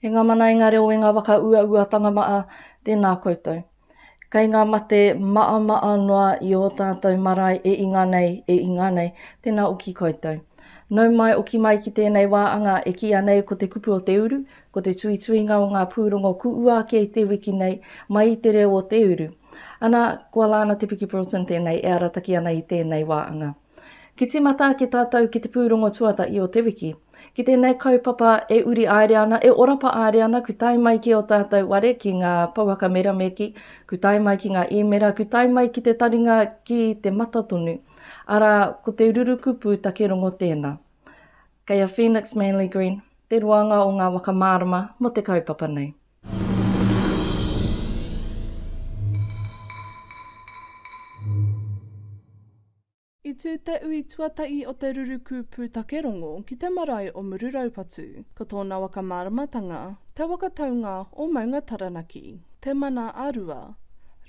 E ngā mana, e ngā reo, e ngā whakauauatanga maa, tēnā koutou. Kei ngā mate maamaa noa i ō tātou marae e inga nei, e inga nei, tēnā oki koutou. Nau mai, oki mai ki tēnei wā anga e kīia nei ko te kupu o te uru, Ko te tuituinga o ngā pūrongo kuua ake i te wiki nei, mai i te reo o te uru. Ana, kua Lana Te Piki Broughton tēnei e arataki ana i tēnei wāanga. Ki tīmata ake tātou ki te pūrongo tuatahi o te wiki. Ki tēnei kaupapa e uri aere ana, e orapa aere ana, ku tae mai ki o tātou ware, ki ngā pouaka merameki, ku tae mai ki ngā īmera, ku tae mai ki te taringa ki te mata tonu. Arā, ko te rurukupu takerongo tēnā. Kei a Phoenix Manly Green te roanga o ngā waka mārama mō te kaupapa nei. I tū te ui tuatahi o te ruruku pūtake rongo ki te marae o Mururaupatu. Ko tōna waka māramatanga, te waka taunga o Maunga Taranaki, te mana a Rua,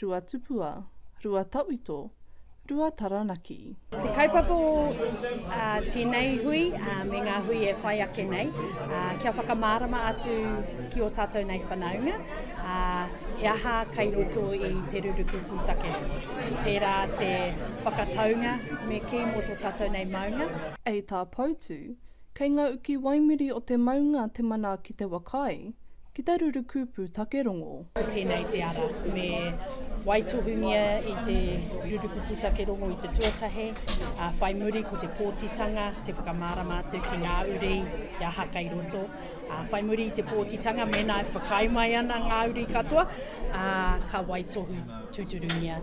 Ruatupua, Ruatawhito, Rua Taranaki. Te kaupapa o tēnei hui me ngā hui e whai ake nei, kia whakamārama atu ki o tātou nei whanaunga, he aha kai roto i te ruruku pūtake. Tērā te whakataunga me kī mō tō tātou nei maunga. Hei tā Poutu, kei ngā uki waimiri o te maunga te mana ki te waka ai, Ki te ruru kupu take rongo. Ko tēnei te ara, me waitohungia i te ruru kupu take rongo i te tuatahe, ā, whai muri ko te pōtitanga, te whakamārama atu ki ngā uri i aha kei roto. Ā, whai muri i te pōtitanga, mēnā e whakaae mai ana ngā uri katoa, ā, ka waitohu tūturungia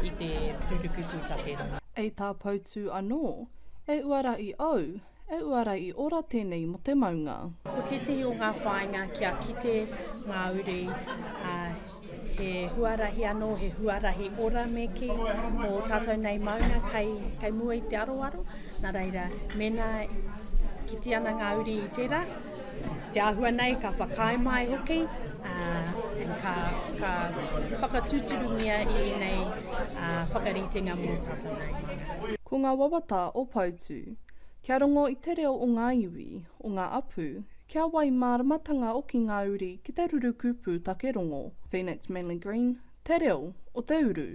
i te ruru kupu take rongo. Hei tā Poutū anō, E uara i au, E uara i ora tenei mo te maunga. Ko tētehi o ngā whāinga kia kite ngā uri, ā, he huarahi anō, he huarahi ora me kī, mō tātou nei maunga kei, kei mua i te aroaro, nā reira, mēnā kite ana ngā uri i tērā, te āhua nei ka whakaae mai hoki, ā, ka, ka whakatūturungia i ēnei ā, whakaritenga mō tātou nei maunga. Ko ngā wawata o Poutu. Kia rongo i te reo o ngā iwi, o ngā apu, kia wai māramatanga oki ngā uri ki te ruruku pūtake rongo, Phoenix Manly Green, Te Reo o te Uru.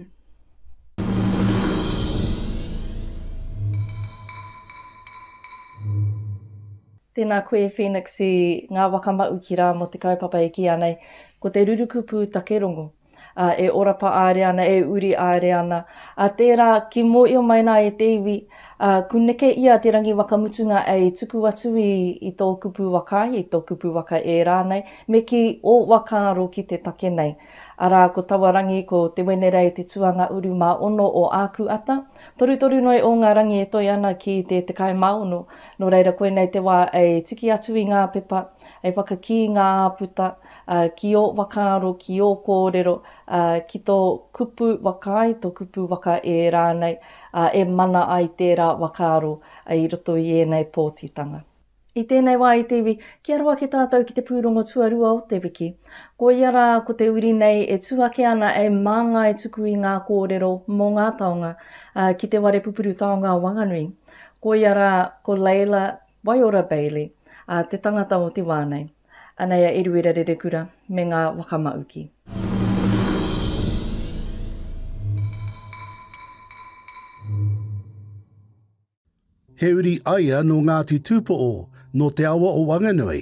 Tēnā koe Phoenix i ngā waka maʻu ki rā mō te kaupapa e kīa nei, ko te ruruku pūtake rongo. ā, e orapa aere ana, e uri aere ana. Ā, tērā, ki mōio mai nā e te iwi, ā, ku neke ia te rangi wakamutunga ei tuku atu i, i tō kupu waka, i tō kupu waka e rānei, me kī, ō whakaaro ki te take nei. Arā, ko taua rangi, ko Te Wenerei te tuanga uru mā ono o āku ata, torutoru noa i ō ngā rangi e toe ana ki te tekau mā ono, nō reira koinei te wā e tiki atu i ngā pepa, e whakakī ngā āputa, ā, ki ō whakaaro, ki ō kōrero, ā, ki tō kupu waka ai, tō kupu waka ē rānei, ā, e mana ai tērā whakaaro i roto i ēnei pōtitanga. I tēnei wā i te iwi, ki aro ake tātou ki te pūrongo tuarua o te wiki. Koia rā ko te uri nei e tū ake ana e māngai tuku i ngā kōrero mō ngā taonga, ā, ki te ware pupuru taonga o Wanganui. Koia rā ko Leila, Waiora Bailey, a te tangata o te wā nei. Anei a Eruera Rerekura me ngā waka mauki. He uri aia nō Ngāti Tūpoʻo, nō te awa o Wanganui.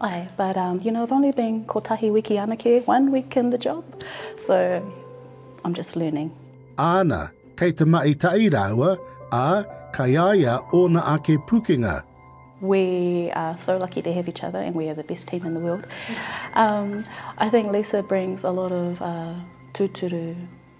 Ae, but um you know I've only been kotahi wiki anake, one week in the job, so I'm just learning. Āna, kei te mahi tahi rāua, ā, kai a ia ōna ake pukenga. We are so lucky to have each other and we are the best team in the world. Um, I think Lisa brings a lot of uh, tūturu,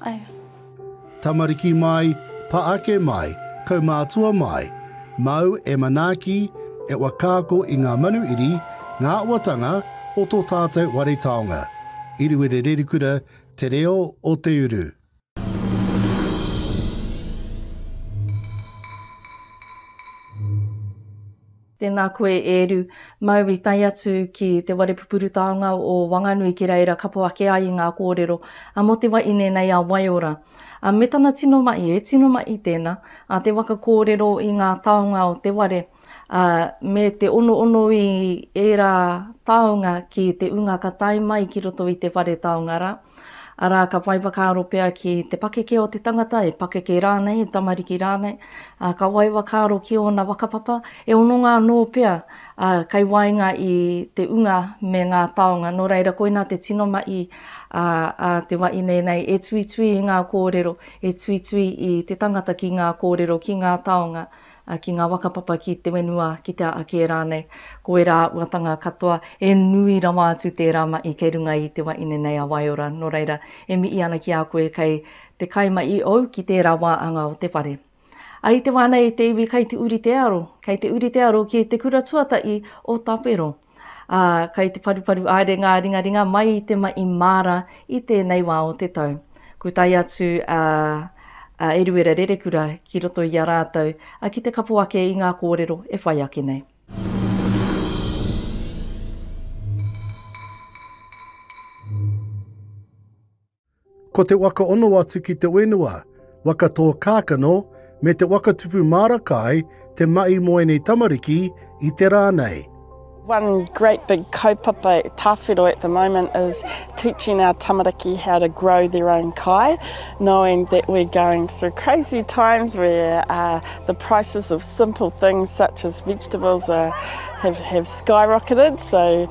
Ae. Tamariki mai, pa ake mai, kaumātua mai, māu e manaaki, e whakaako i ngā manuiri, ngā awatanga o tō tātou ware taonga. Iriwere Rerikura, Te Reo o Te Uru. Tēnā koe e Eru. Mau i tae atu ki te ware pupuru taonga o Wanganui ki reira kapo ake ai i ngā kōrero a Mō te wa i nēnei a Waiora. A me tana tino mahi, e tino mahi tēnā, a te waka kōrero i ngā taonga o te ware, a me te onoono i ērā taonga ki te ūnga ka tae mai ki roto i te whare taonga rā. Arā, ka whai whakaaro pea ki te pakeke o te tangata, e pakeke rānei, e tamariki rānei, ā, ka whai whakaaro ki ōna whakapapa, e hononga anō pea, ā, kei waenga i te unga me ngā taonga. Nō reira, koinā te tino mahi a, a te wa i nei nei, e tuitui i ngā kōrero, e tuitui i te tangata ki ngā kōrero, ki ngā taonga. ā, ki ngā waka papa ki te whenua, ki te aa kē rānei, ko ērā auatanga katoa, e nui rawa atu tērā maʻi kei runga i te wa ine nei a Waiora, nō reira, e miʻi ana ki a koe kei te kai ma i ou ki tērā wā anga o te whare. A i te wā nei te iwi kai te uri te aro, kei te uri te aro ki te kura tuataʻi o Tawhero. ā, kai te paruparu aere ngā ringaringa mai i te mahi māra i tēnei wā o te tau. Kua tae atu a, a Eruera Rerekura ki roto i a rātou, ā, ki te kapo ake i ngā kōrero e whai ake nei. Ko te waka ono atu ki te wenua, waka tō kākano, me te waka tupu māra kai te mahi mō ēnei tamariki i te rā nei. One great big kaupapa tāwhiro at the moment is teaching our tamariki how to grow their own kai, knowing that we're going through crazy times where uh, the prices of simple things such as vegetables are, have, have skyrocketed. So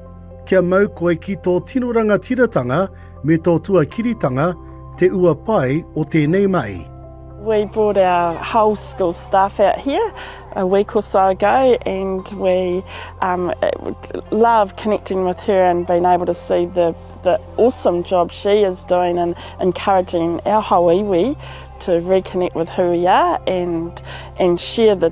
Kia mau koe ki tō tino rangatiratanga me tō tuakiritanga te ua pai o tēnei mahi. We brought our whole school staff out here a week or so ago and we um, love connecting with her and being able to see the, the awesome job she is doing and encouraging our whole iwi to reconnect with who we are and, and share the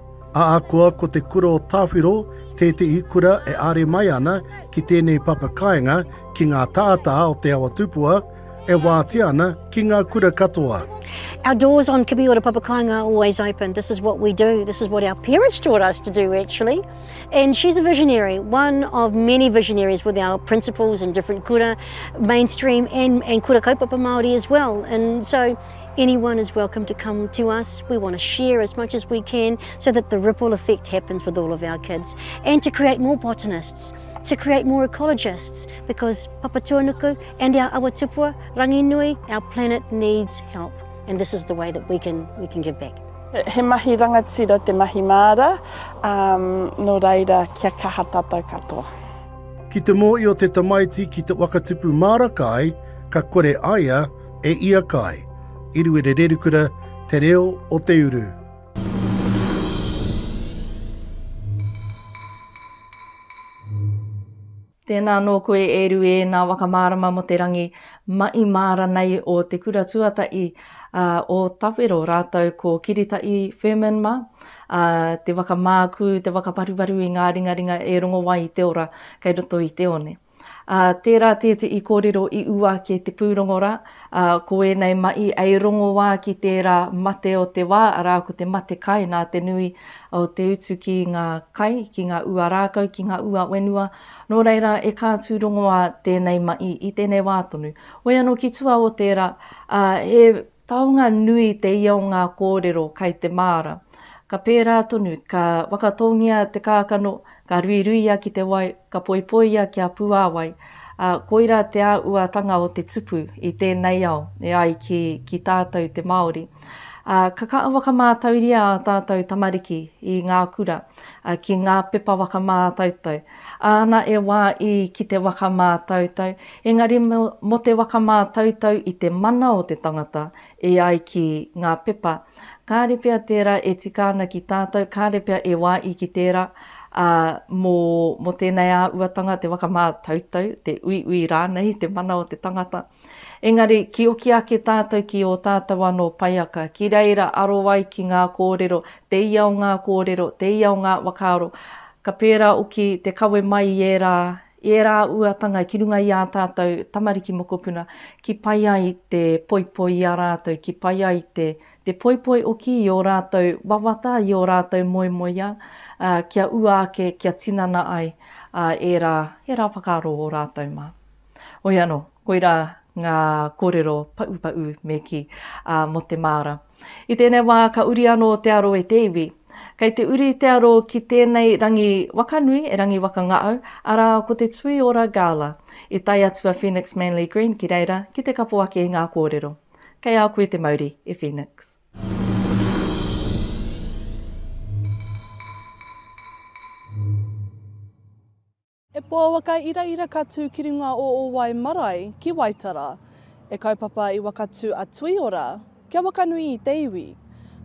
Ahakoa ko te kura o Tawhiro tētehi kura e āre mai ana ki tēnei papakāinga ki ngā tātā o Te Awa Tupua, e wātea ana ki ngā kura katoa. Our doors on Kiwiora Papakāinga are always open. This is what we do. This is what our parents taught us to do actually. And she's a visionary, one of many visionaries with our principals and different kura, mainstream and, and kura kaupapa Māori as well. And so Anyone is welcome to come to us. We want to share as much as we can so that the ripple effect happens with all of our kids and to create more botanists, to create more ecologists because Papatuanuku and our Awatupua, Ranginui, our planet needs help and this is the way that we can, we can give back. He mahi rangatira te mahi māra, um, no reira kia kaha tātou katoa. Ki te mōhio te tamaiti ki te whakatupu māra kai, ka kore aia, E ia kai, Iruere Rerukura, Te Reo o te Uru. Tēnā nō koe e Ru e nā waka mārama mo te rangi maʻi māra nei o te kura tuataʻi a o Tawhero rātou ko Kiritaʻi Firmin ma, a te waka mākū, te waka paruparu i ngā ringaringa e rongo ai i te ora kei roto i te one. Ā, tērā tētehi kōrero i ua ake te pūrongo rā, ā, ko ēnei mahi hei rongoā ki tērā mate o te wā, arā, ko te mate kai nā te nui o te utu ki ngā kai, ki ngā ua rākau, ki ngā ua whenua. Nō reira, e kā tū rongoā tēnei mahi i tēnei wā tonu. Hoi anō ki tua o tērā, ā, he Taonga nui te ia o ngā kōrero kai te māra. Ka pērā tonu, ka whakatōngia te kākano, ka ruiruia ki te wai, ka poipoia kia puāwai, ā, koirā te āuatanga o te tupu i tēnei ao e ai ki, ki tātou te Māori. Ā, ka kaha whakamātauria ā tātou tamariki i ngā kura, ā, ki ngā pepa whakamātautau, Āna e wā i ki te waka mātautau, engari mō te waka mātautau i te mana o te tangata e ai ki ngā pepa. Kāre pea tērā e tika ana ki tātou, kāre pea e wā i ki tērā, ā, mō, mō tēnei āuatanga, te waka mātautau, te uiui rānei i te mana o te tangata. Engari, kioki ake tātou ki ō tātou anō paiaka, ki reira aro ai ki ngā kōrero, te ia o ngā kōrero, te ia o ngā whakaaro, ka pērā oki te kawe mai i ērā, i ērā uatanga ki runga i ā tātou tamariki mokopuna, ki pai ai te poipoi i a rātou, ki pai ai te, te poipoi oki i ō rātou wawata, i ō rātou moemoeā, ā, kia ua ake, kia tinana ai, ā, ērā, ērā whakaaro o rātou mā. Hoi anō, koirā ngā kōrero paʻupaʻu me kī, ā, mō te māra. I tēnei wā ka uri anō te aro e te iwi. Kei te uri te aro ki tēnei rangi waka nui e Rangiwakangaau, arā, ko te Tuiora Gala. I tae atu a Phoenix Manly Green ki reira ki te kapo ake i ngā kōrero. Kei a koe te mauri, e Phoenix. E Poawa ka iraira ka tū ki runga o ō wai marae ki Waitara. E kaupapa i wakatū a Tuiora kia wakanui i te iwi.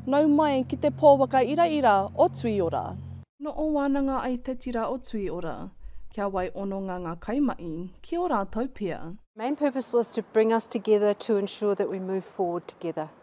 Nau mai ki te Poawa ka iraira o Tuiora. No o wānanga ai te tira o Tuiora. Kia wai ononga nga kaimahi ki o rātou pia. Main purpose was to bring us together to ensure that we move forward together.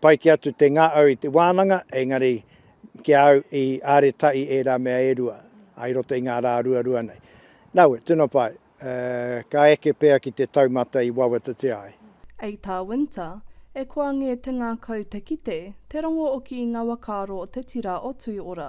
Pai kē atu te ngā au i te wānanga, engari ki a au i āreta i ērā mea e rua, ā, i roto i ngā rā ruarua nei. Nāu, tino pai, ka eke pea ki te taumata i wawatatia ai. A Tā Winter, E koa ngē te ngākau te kite, te rongo o ki i ngā wakaaro o te tira o Tuiora.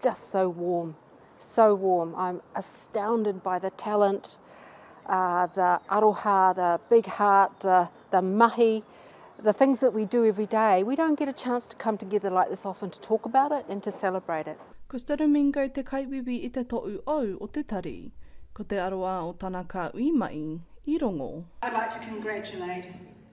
Just so warm, so warm. I'm astounded by the talent, uh, the aroha, the big heart, the, the mahi, the things that we do every day. We don't get a chance to come together like this often to talk about it and to celebrate it. Ko Stodomingo te kaiwiwi i te toʻu ou o te tari. Ko te aroā o tana ka ui mai, i rongo. I'd like to congratulate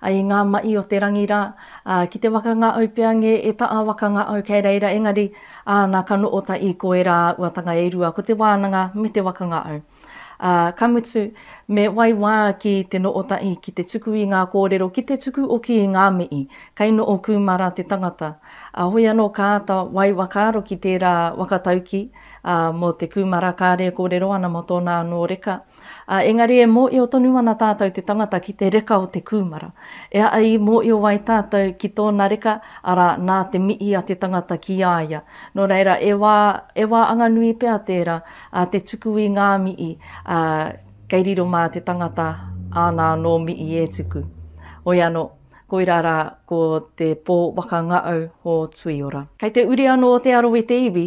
A i ngā maʻi o te rangi rā, a, ki te waka ngā au pea ngē, e ta a waka ngā au kei reira, engari, a, na ka noʻo ta i koe rā a uatanga e rua, ko te wānanga me te waka ngā au. A, ka mutu, me wai wā ki te noʻo ta i ki te tuku i ngā kōrero, ki te tuku oki i ngā miʻi, kei noʻo kūmara te tangata. A hoi anō ka ata wai wakaaro ki tērā waka taukī, a, mō te kūmara kāre e kōrero ana mō tōna anō reka, Ā, engari e mōhio tonu ana tātou te tangata ki te reka o te kūmara. E aha i mōhio ai tātou ki tōna reka, arā, nā te mihi a te tangata ki a ia. Nō reira, e wā, e wā anganui pea tērā, ā, te tuku i ngā mihi, ā, kei riro mā te tangata āna anō mihi e tuku. Hoi anō, koirā rā, ko te pō waka ngaau o Tuiora. Kei te uri anō te aro i te iwi,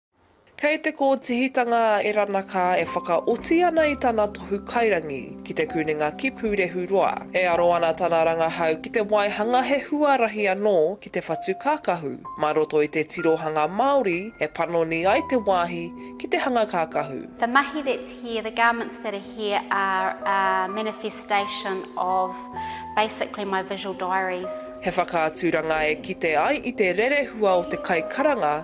Kei te kōtihitanga a Erana Ka e whakaoti ana i tana tohu kairangi ki Te Kunenga ki Pūrehuroa. E aro ana tana rangahau ki te waihanga he huarahi anō ki te whatu kākahu mā roto i te tirohanga Māori e panoni ai te wāhi ki te hanga kākahu. The mahi that's here, the garments that are here are a manifestation of basically my visual diaries. He whakaaturanga e kite ai i te rerehua o te kaikaranga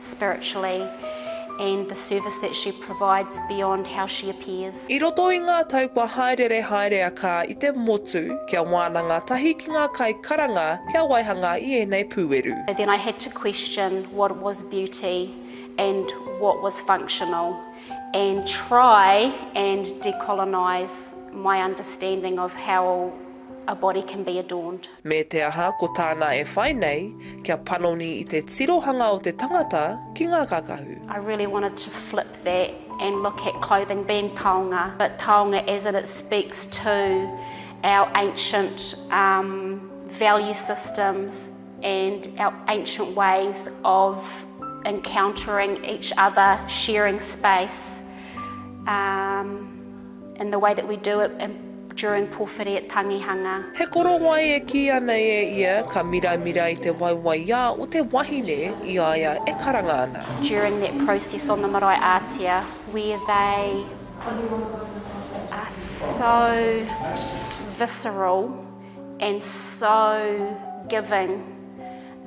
spiritually and the service that she provides beyond how she appears. I roto i ngā tau kua hāereere haere a Kaa i te motu kia wānanga tahi ki ngā kai karanga kia waihanga i ēnei pūeru. So then I had to question what was beauty and what was functional and try and decolonise my understanding of how a body can be adorned. Me te aha, ko tāna e whai nei, kia panoni i te tirohanga o te tangata ki ngā kakahu. I really wanted to flip that and look at clothing being taonga, but taonga as in it speaks to our ancient value systems and our ancient ways of encountering each other, sharing space. And the way that we do it during powhiri at Tangihanga. He korowai e kīia nei e ia ka miramira i te waiwaiā o te wahine i a ia e karanga ana. During that process on the marae ātea where they are so visceral. and so giving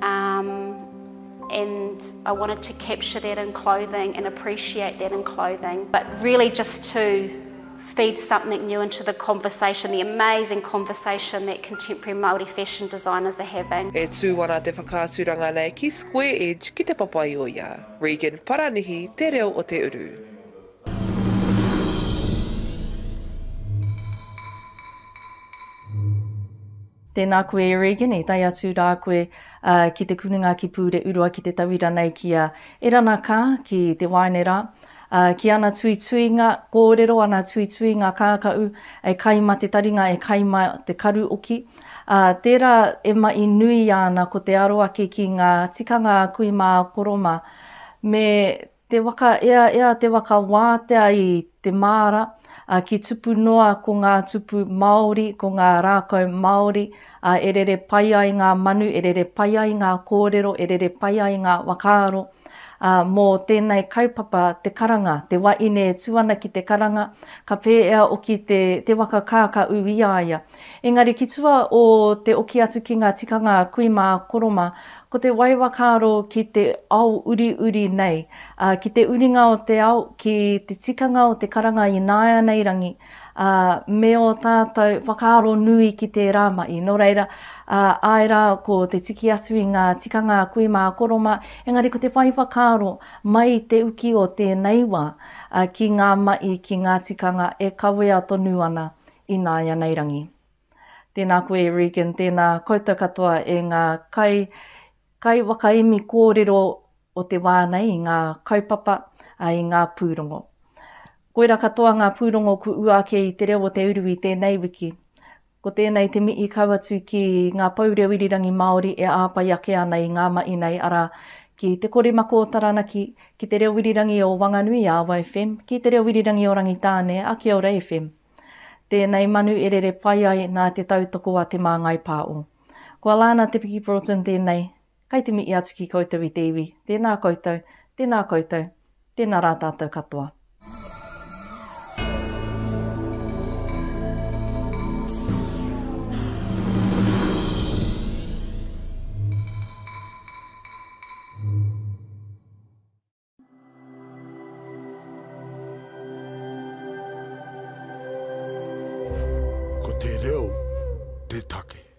um and I wanted to capture that in clothing and appreciate that in clothing but really just to feed something new into the conversation, the amazing conversation that contemporary Māori fashion designers are having. E tū ana te whakaaturanga nei ki Square Edge ki te Papaioia, Regan Paranihi te reo o te uru. Tēnā koe e Regan, i tae atu rā koe ki te kurunga ki Pūreʻuroa ki te tauira nei ki a Erana Kaa, ki te waeine rā, ki ana tuituinga kōrero, ana tuituinga kākaʻu, e kai ma te taringa, e kai ma te karu oki. Tērā e maʻi nui ana ko te aro ake ki ngā tikanga a kui mā a koro mā, me Te waka ea ea te waka wātea i te māra, a ki tupu noa ko ngā tupu Māori, ko ngā rākau Māori, a e rere pai ai ngā manu, e rere pai ai ngā kōrero, e rere pai ai ngā whakaaro. A, mō tēnei kaupapa te karanga, te waine e tū ana ki te karanga, ka pēea oki te, te waka kākaū i a ia. Engari ki tua o te oki atu ki nga tikanga kui ma Koroma, ko te wai wakaaro ki te ao uriuri nei, a, ki te uringa o te ao, ki te tikanga o te karanga inaeanei rangi, a, me o tatou whakaaro nui ki tera mahi. No reira, a, ae ra ko te tiki atu i nga tikanga kui ma Koroma, engari ko te whai whakaaro mai i te uki o tenei wa, a, ki nga mahi, ki nga tikanga e kawea tonu ana Ināianei Rangi. Tēnā koe Regan, tēnā koutou katoa e ngā kai, kai whakaemi kōrero o te wā nei i ngā kaupapa, ā, i ngā pūrongo. Koira katoa ngā pūrongo ku ua ake i Te Reo o Te Uru i tēnei wiki. Ko tēnei te mihi kau atu ki ngā pou reo irirangi Māori e āpai ake ana i ngā mahi nei, arā, ki Te Korimako o Taranaki, ki Te Reo Irirangi o Wanganui, ā, Wai FM, ki Te Reo Irirangi o Rangitāne, ā, Kia Ora FM. Tēnei manu e rere pai ai nā te tautoko a Te Māngai Pāo. Ko Alana Te Piki Broughton tēnei, kai te mihi atu ki koutou i te iwi, tēnā koutou, tēnā koutou, tēnā rā tātou katoa. Ko te reo te take.